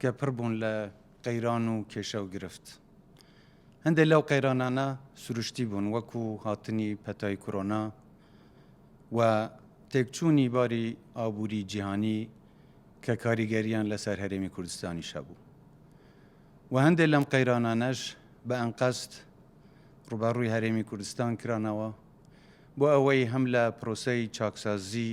کە پڕ بوون لە قەیران و کێشە و گرفت. هەندێک لەو قەیرانانە سروشتی بوون وەکو هاتنی پەتای کۆرۆنا و تێکچوونی باری ئابووری جیهانی کە کاریگەرییان لەسەر هەرێمی کوردستانیش هەبوو و هەندێک لەم قەیرانانەش بە ئەنقەست ڕوبەڕووی هەرێمی کوردستان کرانەوە بۆ ئەوەی هەم لە پرۆسەی چاکسازی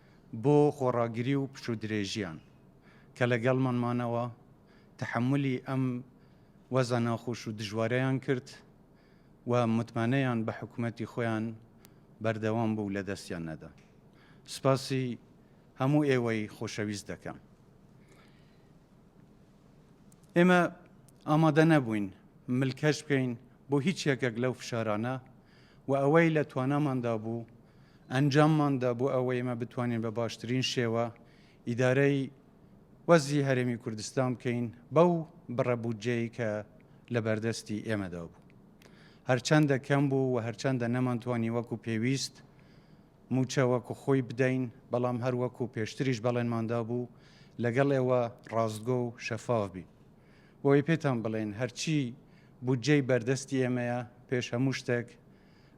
بۆ خۆڕاگری و پشوودرێژییان کە لەگەڵمان مانەوە، تەحەمولی ئەم وەزعە ناخۆش و دژوارەیان کرد و متمانەیان بە حکومەتی خۆیان بەردەوام بوو لە دەستیان نەدا. سپاسی هەموو ئێوەی خۆشەویست دەکەم. ئێمە ئامادە نەبووین ملکەچ بکەین بۆ هیچ یەکێک لەو فشارانە و ئەوەی لە تواناماندا بوو ئەنجاممان دا بۆ ئەوەی ئێمە بتوانین بە باشترین شێوە ئیدارەی وەزی هەرێمی کوردستان بکەین بەو بڕە بودجەی کە لە بەردەستی ئێمەدا بوو هەرچەندە کەم بوو و هەرچەندە نەمانتوانی وەکو پێویست موچە وەکو خۆی بدەین بەڵام هەر وەکو پێشتریش بەڵێنماندا بوو لەگەڵ ئێوە ڕاستگۆ و شەفاف بین بۆی پێتان بڵێن هەرچی بودجەی بەردەستی ئێمەیە پێش هەموو شتێک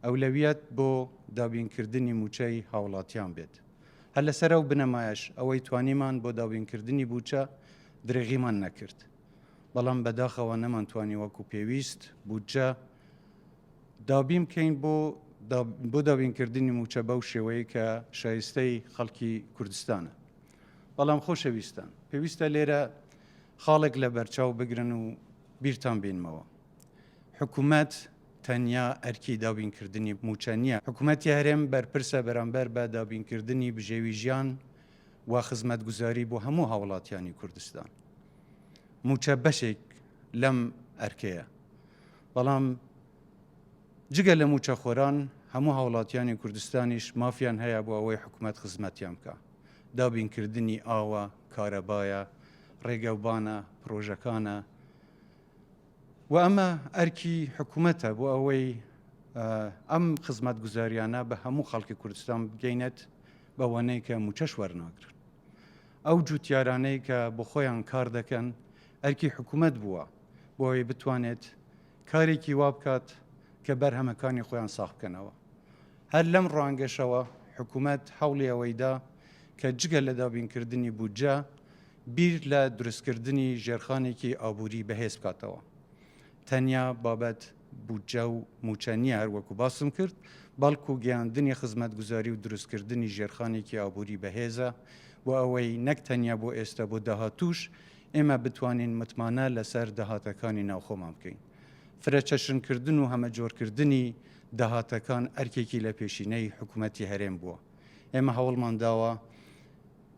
ئەولەویەت بۆ دابینکردنی مووچەی هاوڵاتیان بێت. هەر لەسەر ئەو بنەمایەش ئەوەی توانیمان بۆ دابینکردنی بودجە درێغیمان نەکرد، بەڵام بەداخەوە نەمانتوانی وەکو پێویست بودجە دابین بکەین بۆ بۆ دابینکردنی مووچە بەو شێوەیە کە شایستەی خەڵکی کوردستانە. بەڵام خۆشەویستان پێویستە لێرە خاڵێک لە بەرچاو بگرن و بیرتان بینمەوە. حکومەت تەنیا ئەرکی دابینکردنی موچە نییە، حکومەتی هەرێم بەرپرسە بەرامبەر بە دابینکردنی بژێوی ژیان و خزمەتگوزاری بۆ هەموو هاوڵاتیانی کوردستان. موچە بەشێک لەم ئەرکەیە. بەڵام جگە لە موچەخۆران هەموو هاوڵاتیانی کوردستانیش مافیان هەیە بۆ ئەوەی حکومەت خزمەتیان بکە. دابینکردنی ئاوە، کارەبایە، ڕێگەوبانە، پرۆژەکانە، و ئەمە ئەرکی حکوومەتە بۆ ئەوەی ئەم خزمەت گوزاریانە بە هەموو خەڵکی کوردستان بگەینێت بەوانەی کە موچەش وەرناگرن ئەو جوتیارانەی کە بۆ خۆیان کار دەکەن ئەرکی حکوومەت بووە بۆی بتوانێت کارێکی وا بکات کە بەرهەمەکانی خۆیان ساخ بکەنەوە هەر لەم ڕوانگەشەوە حکوومەت هەوڵی ئەوەیدا کە جگە لە دابینکردنی بودجە بیر لە دروستکردنی ژێرخانێکی ئابووری بەهێز بکاتەوە. تەنیا بابەت بودجە و مووچە نییە هەر وەکو باسم کرد، بەڵکو گەیاندنی خزمەتگوزاری و دروستکردنی ژێرخانێکی ئابووری بەهێزە بۆ ئەوەی نەک تەنیا بۆ ئێستا بۆ داهاتووش ئێمە بتوانین متمانە لەسەر داهاتەکانی ناوخۆمان بکەین. فرەچەشنکردن و هەمەجۆرکردنی داهاتەکان ئەرکێکی لە پێشینەی حکومەتی هەرێم بووە. ئێمە هەوڵمان داوە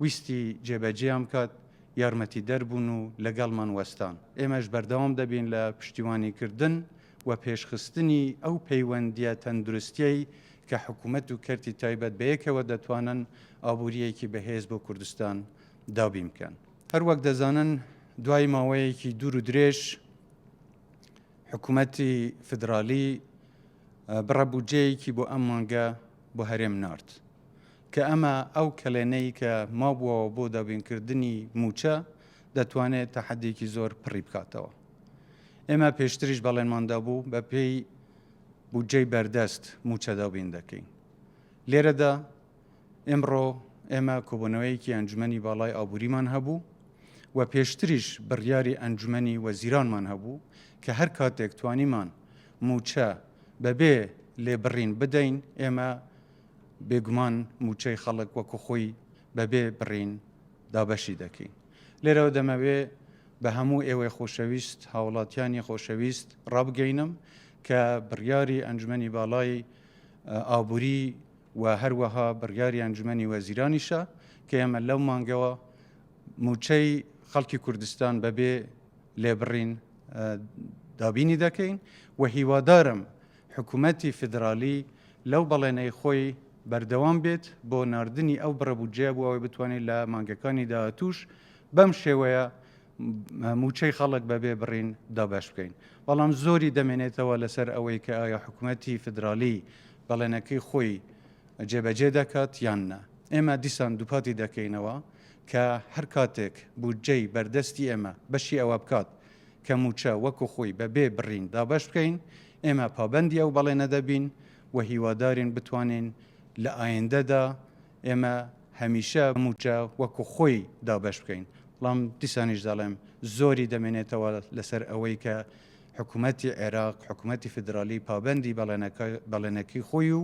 ویستی جێبەجێیان بکات، یارمەتیدەر بوون و لەگەڵمان وەستان. ئێمەش بەردەوام دەبین لە پشتیوانیکردن و پێشخستنی ئەو پەیوەندییە تەندروستییەی کە حکوومەت و کەرتی تایبەت بەیەکەوە دەتوانن ئابوورییەکی بەهێز بۆ کوردستان دابین بکەن. هەروەک دەزانن دوای ماوەیەکی دوور و درێژ حکوومەتی فیدراڵی بڕە بودجەیەکی بۆ ئەم مانگە بۆ هەرێم نارد. کە ئەمە ئەو کەلێنەی کە مابووەوە بۆ دابینکردنی مووچە دەتوانێت تەحەددێکی زۆر پڕی بکاتەوە. ئێمە پێشتریش بەڵێنمان دابوو بەپێی بودجەی بەردەست مووچە دابین دەکەین. لێرەدا ئێمڕۆ ئێمە کۆبوونەوەیەکی ئەنجومەنی باڵای ئابووریمان هەبوو و پێشتریش بڕیاری ئەنجومەنی وەزیرانمان هەبوو کە هەر کاتێک توانیمان مووچە بەبێ لێبڕین بدەین ئێمە بێگومان موچەی خەڵک وەکو خۆی بەبێ بڕین دابەشی دەکەین. لێرەوە دەمەوێ بە هەموو ئێوەی خۆشەویست، هاوڵاتیانی خۆشەویست ڕابگەینم کە بڕیاری ئەنجومەنی باڵای ئابوری و هەروەها بڕیاری ئەنجومەنی وەزیرانیشە کە ئێمە لەو مانگەوە موچەی خەڵکی کوردستان بەبێ لێبڕین دابینی دەکەین و هیوادارم حکومەتی فیدراڵی لەو بەڵێنەی خۆی بەردەوام بێت بۆ ناردنی ئەو بڕە بودجەیە بۆ ئەوەی بتوانێت لە مانگەکانی داهاتووش بەم شێوەیە موچەی خەڵک بەبێ بڕین دابش بکەین بەڵام زۆری دەمێنێتەوە لەسەر ئەوەی کە ئایا حکوومەتتی فدرالی بەڵێنەکەی خۆی جێبەجێ دەکات یان نە ئێمە دیسان دووپاتی دەکەینەوە کە هەر کاتێک بودجەی بەردەستی ئێمە بەشی ئەوە بکات کە مووچە وەکو خۆی بە بێ بڕین دابەش بکەین، ئێمە پابەندی ئەو بەڵێنە دەبین و هیوادارین بتوانین لە ئایندەدا ئێمە هەمیشە مووچە وەکو خۆی دابەش بکەین، بەڵام دیسانیش دەڵێم زۆری دەمێنێتەوە لەسەر ئەوەی کە حکومەتی عێراق، حکومەتی فیدراڵی پابەندی بەڵێنەکەی خۆی و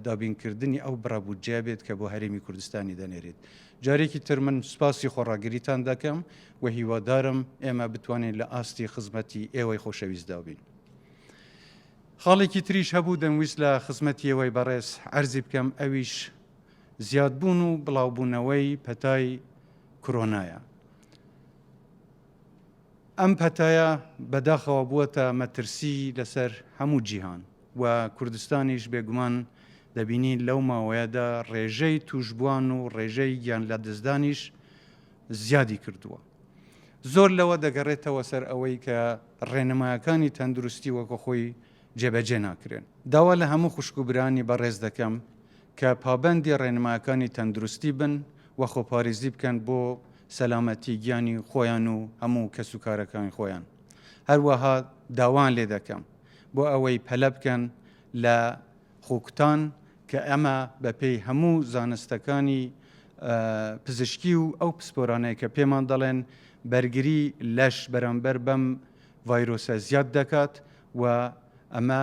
دابینکردنی ئەو بڕە بودجەیە بێت کە بۆ هەرێمی کوردستانی دەنێرێت. جارێکی تر من سوپاسی خۆڕاگریتان دەکەم و هیوادارم ئێمە بتوانین لە ئاستی خزمەتی ئێوەی خۆشەویستدا بین. خاڵێکی تریش هەبوو دەمویست لە خزمەتی ئێوەی بەڕێز عەرزی بکەم ئەویش زیادبوون و بڵاوبوونەوەی پەتای کرۆنایە. ئەم پەتایە بەداخەوە بووەتە مەترسی لەسەر هەموو جیهان و کوردستانیش بێگومان دەبینین لەو ماوەیەدا ڕێژەی تووشبووان و ڕێژەی گیانلەدەستدانیش زیادی کردووە. زۆر لەوە دەگەڕێتەوە سەر ئەوەی کە ڕێنمایەکانی تەندروستی وەکوخۆی جێبەجێ ناکرێن. داوا لە هەموو خوشک و برایانی بەڕێز دەکەم کە پابەندی ڕێنمایەکانی تەندروستی بن و خۆپاریزی بکەن بۆ سەلامەتی گیانی خۆیان و هەموو کەسوکارەکانی خۆیان، هەروەها داوایان لێ دەکەم بۆ ئەوەی پەلە بکەن لە خۆکوتان کە ئەمە بەپێی هەموو زانستەکانی پزیشکی و ئەو پسپۆرانەی کە پێمان دەڵێن بەرگری لەش بەرامبەر بەم ڤایرۆسە زیاد دەکات و ئەمە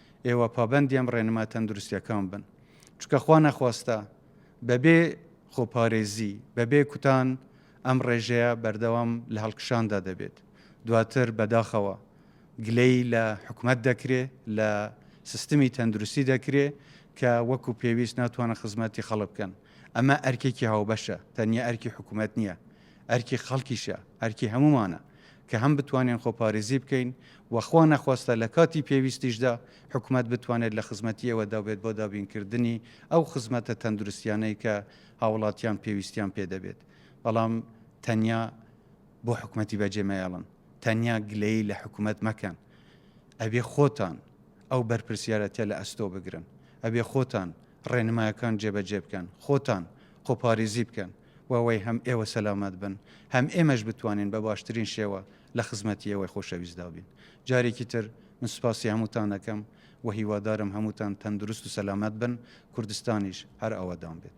ئێوە پابەندی ئەم ڕێنما تەندروستیەکان بن چونکە خوا نەخواستە بەبێ خۆپارێزی بەبێ کوتان ئەم ڕێژەیە بەردەوام لە هەڵکشاندا دەبێت دواتر بەداخەوە گلەی لە حکومت دەکرێ لە سیستمی تەندروستی دەکرێ کە وەکو پێویست ناتوانە خزمەتی خەڵک بکەن ئەمە ئەرکێکی هاوبەشە تەنیا ئەرکی حکوومەت نییە ئەرکی خەڵکیشە، ئەرکی هەموومانە کە هەم بتوانین خۆپارێزی بکەین و خوا نەخواستە لە کاتی پێویستیشدا حکومەت بتوانێت لە خزمەتی ئێوەدا بێت بۆ دابینکردنی ئەو خزمەتە تەندروستیانەی کە هاوڵاتیان پێویستیان پێ دەبێت بەڵام تەنیا بۆ حکومەتی بەجێ مەیەڵن تەنیا گلەیی لە حکومەت مەکەن ئەبێ خۆتان ئەو بەرپرسیارەتە لە ئەستۆ بگرن ئەبێ خۆتان ڕێنمایەکان جێبەجێ بکەن خۆتان خۆپارێزی بکەن و وەی هەم ئێوە سەلامەت بن هەم ئێمەش بتوانین بە باشترین شێوە لە خزمەتی ئێوەی خۆشەویستدا بین جارێکی تر من سوپاسی هەمووتان دەکەم و هیوادارم هەمووتان تەندروست و سەلامەت بن کوردستانیش هەر ئاوادان بێت.